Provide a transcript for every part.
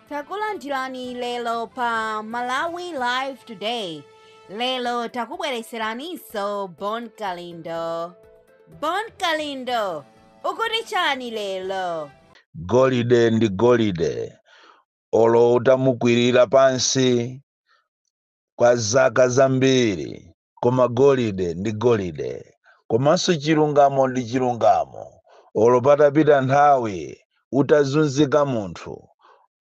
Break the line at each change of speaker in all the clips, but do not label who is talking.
takulandirani lero pa malawi live today lero takubwereseraninso bon kalindo bon kalindo ukuti chani lero golide
ndi golide olo utamukwirira pansi kwa zaka zambiri koma golide ndi golide, komanso chilungamo ndi chilungamo. Olo patapita nthawi, utazunzika munthu,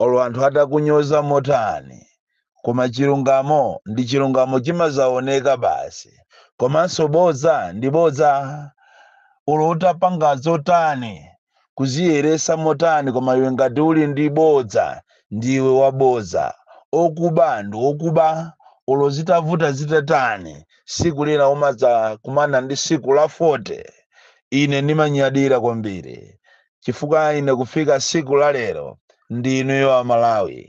olo anthu atakunyoza motani, koma chilungamo ndi chilungamo chimazaoneka basi, komanso bodza ndi bodza, olo utapanga zotani. Kudziyeretsa motani koma iwe ngati uli ndi bodza ndiwe wabodza, okuba ndi okuba olo zitavuta zitatani siku lina umadzakumana ndi siku la 40. Ine ndimanyadira kwambiri chifukwa ine kufika siku la lero ndi inuyo a Malawi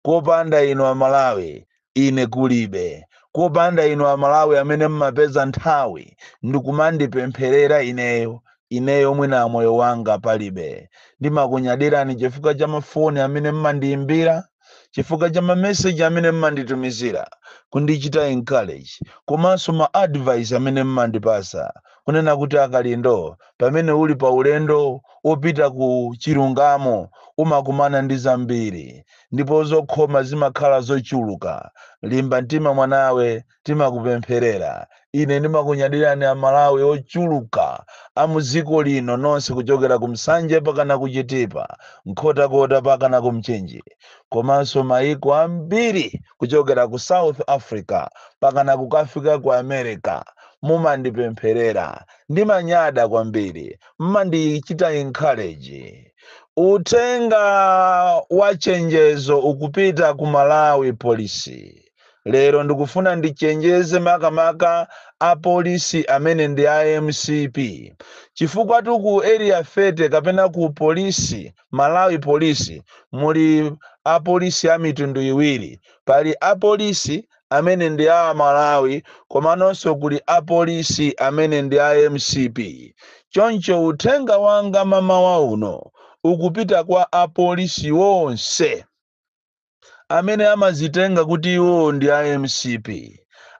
kopanda inu a Malawi Ine kulibe. Kopanda inu a Malawi amene mmapeza nthawi ndikumandipempherera ineyo, ineyo mwina moyo wanga palibe. Ndimakunyadirani chifukwa cha ma foni amene mmandiyimbira, chifukwa cha ma message amene mmanditumizira kundichita encourage komanso ma advice amene mmandipasa kunena kuti a Kalindo pamene uli pa ulendo opita ku chilungamo umakumana ndi zambiri. ndipo zokhoma zimakhala zochuluka. Limba mtima mwanawe, timakupempherera. Ine ndimakunyadirani Amalawi ochuluka a mu dziko lino nonse kuchokera ku Nsanje pakana ku Chitipa, Nkhotakota pakana ku Mchinji, komanso maiko ambiri kuchokera ku South Africa pakana kukafika ku America. Mumandipempherera. Ndimanyada kwambiri. Mmandichita encourage. Uthenga wa chenjezo ukupita ku Malawi Police. Lero ndikufuna ndichenjeze makamaka apolisi amene ndi a mcp chifukwatu ku area 30 kapena ku polisi Malawi Police muli apolisi a mitundu iwiri. Pali apolisi amene ndi a Amalawi komanonso kuli a Polisi amene ndi a mcp. Choncho uthenga wanga mamawa uno ukupita kwa a Polisi onse amene amazitenga kuti iwowo ndi a mcp,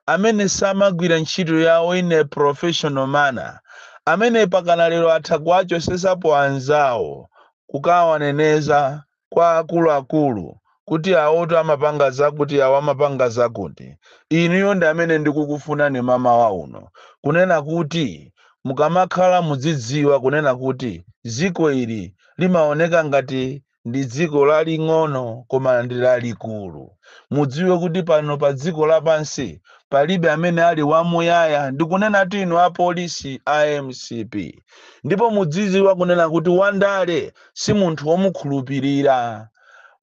amene samagwira ntchito yawo in a professional manner, amene pakana lero atha kuwachosesapo anzawo kukawaneneza kwa akuluakulu kuti awotu amapanga zakuti awo amapanga zakuti. Inuyo ndi amene ndikukufunani mamawa uno kunena kuti mukamakhala mudzidziwa kunena kuti dziko ili limaoneka ngati ndi dziko laling'ono koma ndi lalikulu. Mudziwe kuti pano pa dziko lapansi palibe amene ali wamuyaya ndikunenatu inu apolisi a mcp. Ndipo mudzidziwa kunena kuti Wandale si munthu womukhulupirira.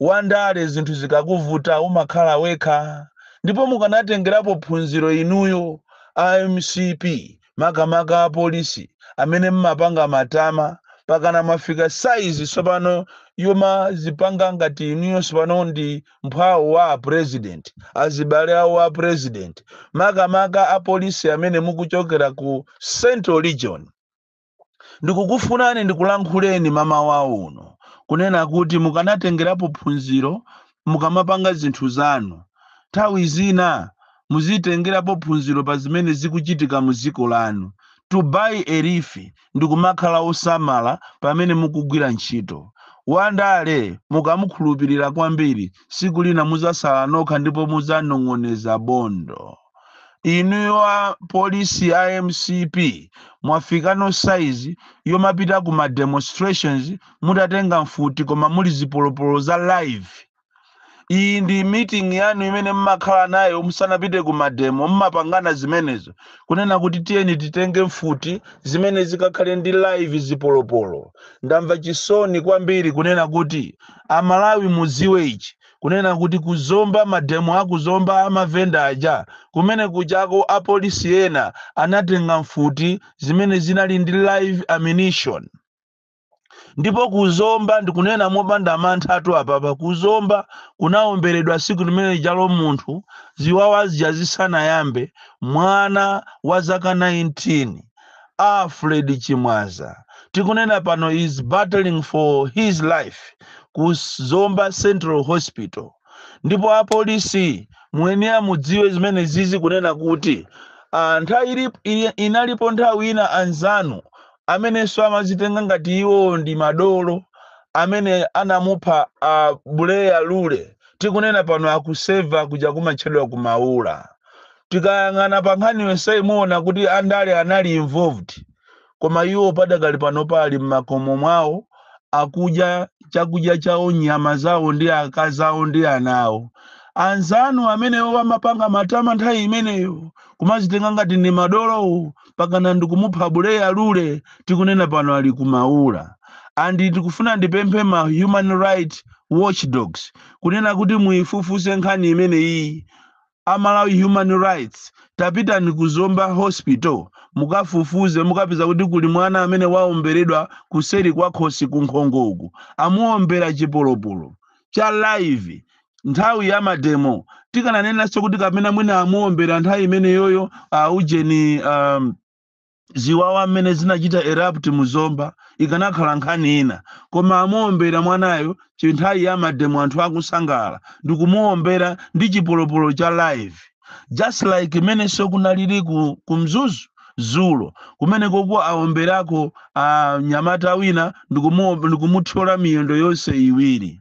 Wandale zinthu zikakuvuta umakhala wekha ndipo mukanatengerapo phunziro inuyo a mcp makamaka apolisi amene mmapanga matama pakana mwafika size sopano yomazipanga ngati inuyo sopano ndi mphwawo wa a president azibale awo a president makamaka apolisi amene mukuchokera ku central region ndikukufunani ndikulankhuleni mamawa uno kunena kuti mukanatengerapo phunziro mukamapanga zinthu zanu nthawi zina muzitengerapo phunziro pa zimene zikuchitika mu dziko lanu to borrow a leaf ndikumakhala osamala pamene mukugwira ntchito wandale mukamukhulupirira kwambiri siku lina muzasala nokha ndipo muzanong'oneza bondo inuyo a polisi a mcp mwafikano size yomapita ku ma demonstrations mutatenga mfuti koma muli zipolopolo za live iyi ndi meeting yanu imene mmakhala nayo musanapite ku mademo mmapangana zimenezo kunena kuti tiyeni titenge mfuti zimene zikakhale ndi live zipolopolo ndamva chisoni kwambiri kunena kuti amalawi muziwe ichi kunena kuti kuzomba mademo akuzomba amavenda aja kumene kujako apolisi ena anatenga mfuti zimene zinali ndi live ammunition ndipo kuzomba ndikunena mopanda manthatu apapa kuzomba kunawomberedwa siku limene jalo munthu ziwawa zija zisanayambe mwana wa zaka 19 Alfred Chimwaza tikunena pano is battling for his life ku Zomba Central Hospital ndipo apolisi muyenera mudziwe zimene zizi kunena kuti ah, nthawi ili, ili, inalipo nthawi ina anzanu amenenso amazitenga ngati iwo ndi madolo amene anamupha a Buleya Lule tikunena pano akuseva kuja kumatchedwa kumaula Tikayang'ana pa nkhani yonseyi muona kuti andale anali involved koma iwo padakali panopa ali mmakomo mwawo akudya chakudya chawo nyama zawo ndi akazi awo ndi ana awo. Anzanu amenewo amapanga matama nthawi imeneyo kumazitenga ngati ndi madolo mpaka ndikumupha Buleya Lule tikunena pano ali ku Maula. And ndikufuna ndipemphe ma human right watchdogs kunena kuti muifufuze nkhani imeneyiyi A Malawi Human Rights tapitani ku Zomba Hospital mukafufuze mukapeza kuti kuli mwana amene waomberedwa kuseri kwa khosi kunkhongo uku amuombera chipolopolo cha live nthawi ya mademo tikananenanso kuti kapena mwina amuombera nthawi imeneyoyo a ujeni um, ziwawa mmene zinachita erupt mu Zomba ikanakhala nkhani ina koma amuombera mwanayo nthawi ya mademo anthu akusangala ndikumuombera ndi chipolopolo cha live just like mmenenso kunalili ku, ku Mzuzu dzulo kumenekoko aomberako mnyamata wina ndikumu- ndikumuthyola miyendo yonse iwiri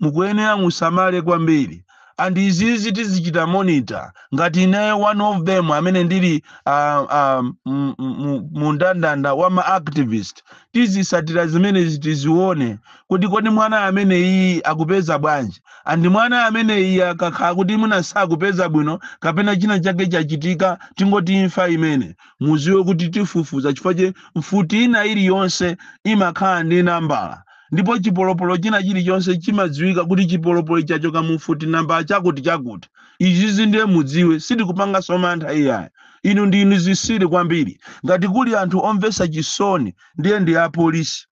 mukuyenera musamale kwambiri and izizi tizichita monitor ngati ineyo one of them amene ndili ah, ah, mu- mu- mu ndandanda wa ma activist tizitsatira zimenezi tizione kuti kodi mwana ameneyu akupeza bwanji and mwana ameneyu akakhala kuti mwina sakupeza bwino kapena china chake chachitika tingoti imfa imene mudziwe kuti tifufuza chifukwa chake mfuti ina iliyonse imakhala ndi nambala ndipo chipolopolo china chilichonse chimadziwika kuti chipolopolo chachoka mu mfuti nambala chakuti chakuti izizi ndiye mudziwe sitikupanganso mantha iyayi inu ndinu zitsiru kwambiri ngati kuli anthu omvetsa chisoni ndiye ndi apolisi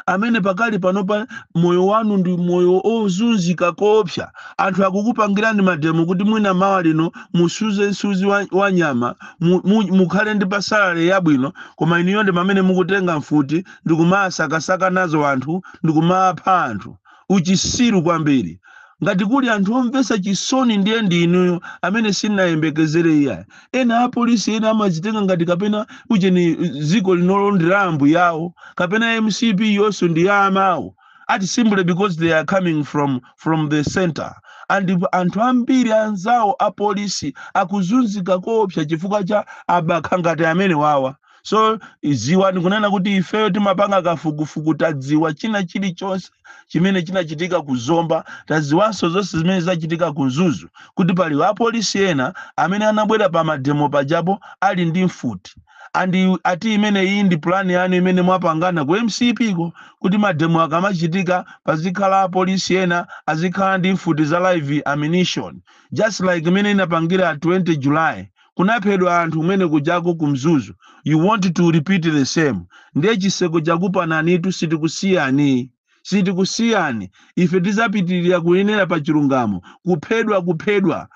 amene pakali panopa moyo wanu ndi moyo ozunzika koopsa anthu akukupangirani mademo kuti mwina mawa lino musuze msuzi wa, wa nyama mu, mu, mukhale ndi pa salary yabwino koma inuyo ndi amene mukutenga mfuti ndikumasakasaka nazo anthu ndikumapha anthu. Uchitsiru kwambiri. Ngati kuli anthu omvetsa chisoni ndiye ndi inuyo amene sinayembekezere iyayi. Ena apolisi ena amazitenga ngati kapena ujeni dziko linolo ndi la ambuyawo kapena MCP-yonso ndi ya amawo ati simply because they are coming from from the center and anthu ambiri anzawo apolisi akuzunzika koopsa chifukwa cha abakha ngati amene wawa so ziwani kunena kuti ifeyo timapanga kafukufuku tadziwa china chilichonse chimene chinachitika ku zomba tadziwanso zonse zimene zachitika ku mzuzu kuti pali apolisi ena amene anabwera pa mademo pajapo ali ndi mfuti and ati imene iyi ndi pulani yanu imene mwapangana ku mcp ko kuti mademo akamachitika pazikhala apolisi ena azikhala ndi mfuti za live ammunition just like imene inapangira 20 july kunaphedwa anthu kumene kujako ku mzuzu you want to repeat the same ndiye chiseko chakupananitu sitikusiyani sitikusiyani ife tizapitirira kuyenera pa chilungamo kuphedwa kuphedwa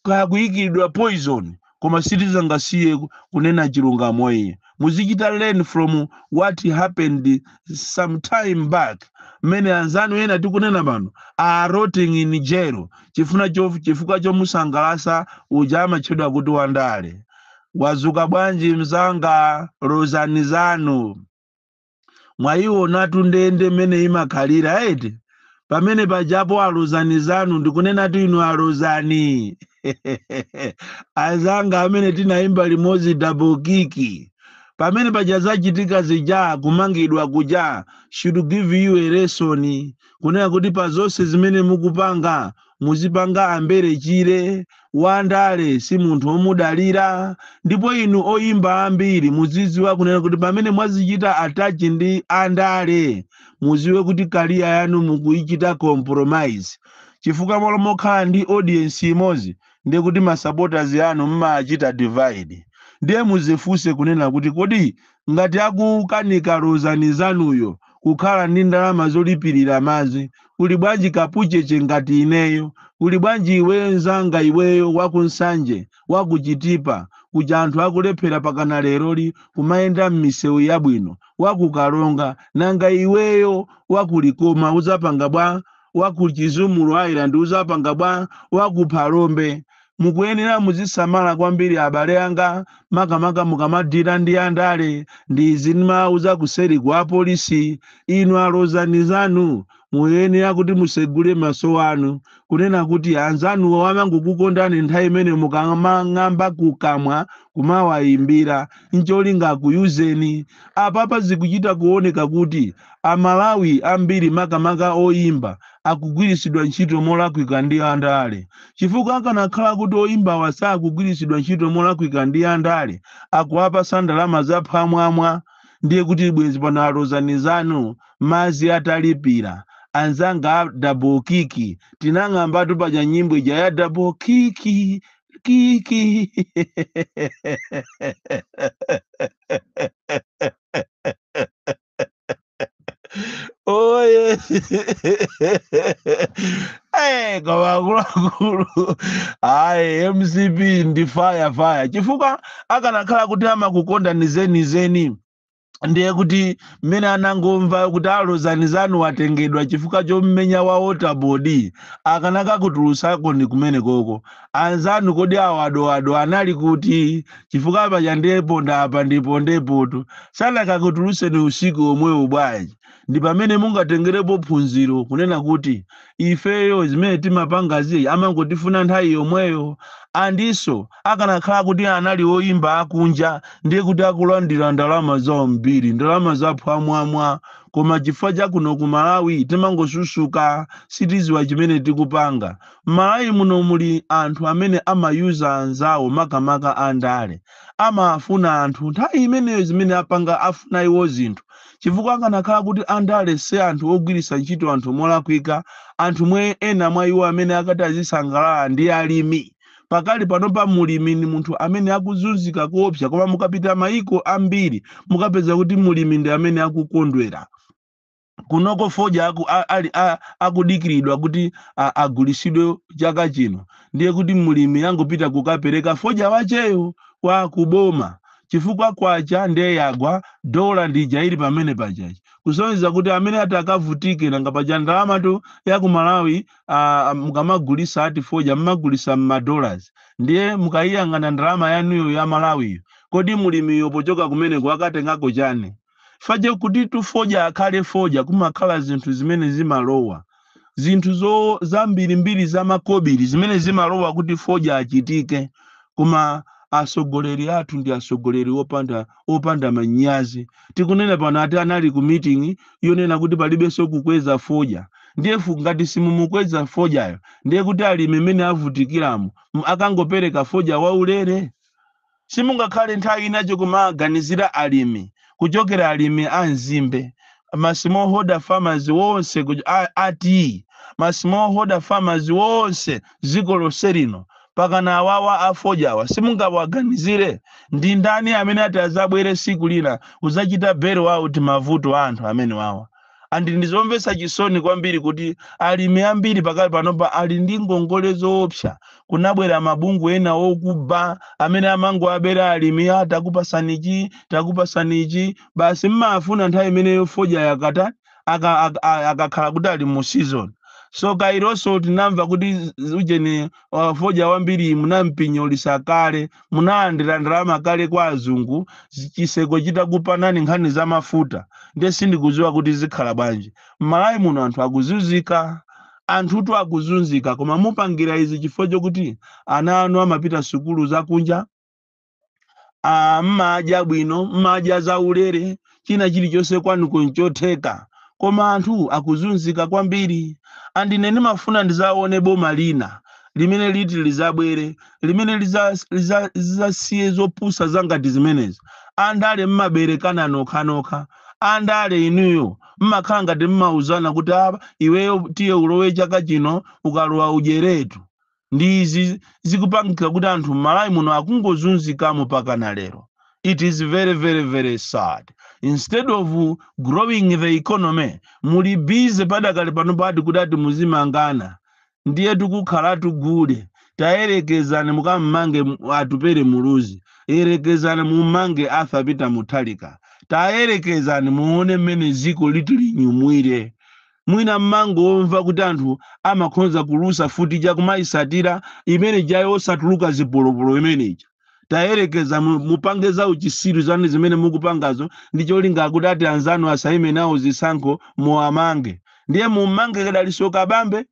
kaya kuyikidwa poison koma sitizangasiye kunena chilungamo iyayi muzichita learn from what happened some time back mmene anzanu ena tikunena pano are rotting in jail chifukwa chomusangalasa uja amatchedwa kuti wandale wazuka bwanji mzanga lozani zanu mwayiwonatu ndende mmene imakhalira eti pamene pajapo alozani zanu ndikunenatu inu alozani azanga amene tinayimba limodzi double kick pamene paja zachitika zija kumangidwa kuja should give you a lesson kunena kuti pa zonse zimene mukupanga muzipanga ambere chire wandale si munthu omudalira ndipo inu oyimba ambiri muziziwa kunena kuti pamene mwazichita attach ndi andale muziwe kuti career yanu mukuichita compromise chifukwa malo mokhala ndi audience imodzi ndiye kuti masupporters anu mmachita divide ndiye muzifunse kunena kuti kodi ngati akukanika Lozani zanuyo kukhala ndi ndalama zolipilira madzi kuli bwanji kapucheche ngati ineyo kuli bwanji iweyo nzanga iweyo wa ku Nsanje wa ku Chitipa kuja anthu akulephera pakana leroli kumayenda mmisewu yabwino wa ku Karonga nanga iweyo wa ku Likoma udzapanga bwa wa ku Chizumulu Island udzapanga bwa wa ku Phalombe Mukuyenera muzisamala kwambiri abale anga makamaka mukamadila ndi andale ndi izi ndimawauza kuseri kwa polisi inu alozani zanu muyenera kuti musegule maso anu kunena kuti anzanuwo amangokukondani nthawi imene mukamang'amba kukamwa kumawayimbira ncholinga akuyuzeni apapa zikuchita kuoneka kuti amalawi ambiri makamaka oyimba akugwiritsidwa ntchito molakwika ndi andale chifukwa akanakhala kuti oyimbawa sakugwiritsidwa ntchito molakwika ndi andale akuwapasa ndalama zaphwamwamwa ndiye kuti bwenzi pano alozani zanu mazi atalipira anzanga a double kiki tinang'ambatu paja nyimbo ija ya double kiki kiki Oye. Eh, koma akuluakulu. Ayi, MCP ndi fire fire. Chifukwa akanakhala kuti amakukondani zenizeni. ndiye kuti mmene anangomva kuti alozani zanu watengedwa chifukwa chommenya wa waterboard akanakakutulutsakoni kumene koko anzanu kodi awo adoado anali kuti chifukwa paja ndeponda apa ndipondepotu sanakakutulutseni usiku omwewo bwanji ndi pamene mungatengerepo phunziro kunena kuti ifeyo zimene timapangazi amangotifuna nthawi yomweyo andinso akanakhala kuti anali oyimba akunja ndiye kuti akulandira ndalama zambiri ndalama zaphwamwamwa koma chifukwa chakuno ku malawi timangosusuka sitiziwa chimene tikupanga Mmalawi muno muli anthu amene amayuza anzawo makamaka a ndale. Amafuna anthu nthawi imeneyo zimene apanga afuna iwo zinthu chifukwa akanakhala kuti a ndale si anthu ogwiritsa ntchito anthu molakwika anthu mwe ena mwa iwo amene akanati azisangalala ndi alimi. Pakali panopa mulimi ndi munthu amene akuzunzika koopsa koma mukapita maiko ambiri mukapeza kuti mulimi ndi amene akukondwera. kunoko fodya aku, a, ali a, akudikiridwa kuti a- agulisidwe chaka chino ndiye kuti mlimi angopita kukapereka fodya wacheyo kwa boma chifukwa kwacha ndiye yagwa dola ndija ili pamene pachachi kusonyeza kuti amene ati akavutike nanga paja ndalamatu ya ku malawi ah, mukamagulisa ati fodya mmagulisa mmadollars ndiye mukayiyang'ana ndalama yanuyo ya malawiyo kodi mlimiyo pochoka kumeneko akatengako chani fache kutitu fodya akhale fodya kumakhala zinthu zimene zimalowa zinthu zambirimbiri zamakobiri zimene zimalowa kuti fodya achitike koma atsogoleri athu ndi atsogoleri opanda opanda manyazi tikunena pano ati anali ku meeting yonena kuti palibenso kukweza fodya ndiye fu- ngati simumukweza fodyayo ndiye kuti alimi mmene avutikiramo m- akangopereka fodya waulere Simungakhale nthawi ina yokumaganizira alimi kuchokera alimi a nzimbe ma smallholder farmers wonse ku- a- ati ma smallholder farmers wonse dziko lonse lino mpakana awawa afodyawa simungawaganizire ndi ndani amene ati azabwere siku lina kuzachita bail out mavuto a anthu amenewawa and ndi zomvetsa chisoni kwambiri kuti alimi ambiri pakali panopa ali ndi ngongole zoopsa kunabwera mabungu ena okuba amene amangoabera alimi ati takupasani ichi takupasani ichi basi mmafuna nthawi imeneyo fodya yakata aka- aka- a- akakhala kuti ali mu season so kaironso tinamva kuti z- ujeni uh, fodya wambiri munampinyolisa kale munalandira ndalama kale kwa azungu zi- chiseko chitakupanani nkhani za mafuta nde sindikuziwa kuti zikhala bwanji mmalawi muno anthu akuzunzika anthutu akuzunzika koma mupangira izi chifukwa chokuti ana anu amapita sukulu zakunja ah, mmadya bwino mmadya zaulere china chilichonse kwanuko nchotheka koma anthu akuzunzika kwambiri and ine ndimafuna ndizaone boma lina limene liti lizabwere limene liza- liza- zizasiye zopusa za ngati zimenezi andale mmaberekana nokhanokha andale inuyo mmakhala ngati mmauzana kuti apa iweyo tiye ulowe chaka chino ukalowa udyeretu ndi izi zikupangika kuti anthu m'malawi muno akungozunzikamo pakana lero it is very very very sad instead of growing the economy muli busy padakali pano pati kuti ati muzimangana ndiye tikukhala tugule tayerekezani mukammange M- atupere muluzi yerekezani mummange arthur peter mutharika tayerekezani muone mmene ziko liti linyumwire Mwina m'mangomva kuti anthu amakhonza kulusa futi ija kumaisatira imene ija yosatuluka zipolopolo imene ija. Tayerekeza mu, mupange za uchisiru zanu zimene mukupangazo ndi cholinga kuti ati anzanu asaime nawo zisankho muwamange. Ndiye mummange Dalitso Kabambe?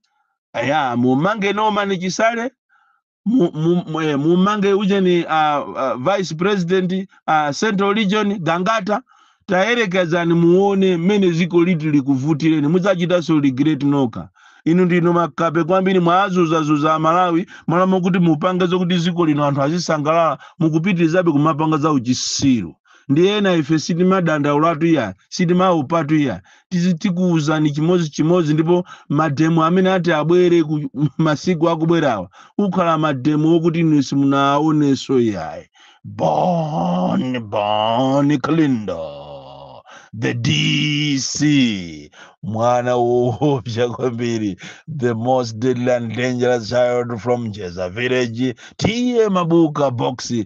Aya, mummange Norman Chisale? mu- mu- mu- eh, mumange ujeni uh, uh, vice president uh, central region gangata tayerekezani muone mmene ziko liti likuvutireni mudzachitanso regret nokha inu ndinu makape kwambiri mwazuzazuza amalawi mmalo mwakuti mupange zokuti ziko lino anthu azisangalala mukupitirizabe kumapanga za uchisiru ndiye ena ife sitimadandaulatu iyayi sitimaopatu iyayi Tizi- tikuwuzani chimodzi chimodzi ndipo mademo amene ati abwere ku masiku akubwerawa akhala mademo okuti inu simunaonenso iyayi bon bon kalindo the dc mwana woopsa kwambiri the most deadly and dangerous child from jeza village t a mabuka boxi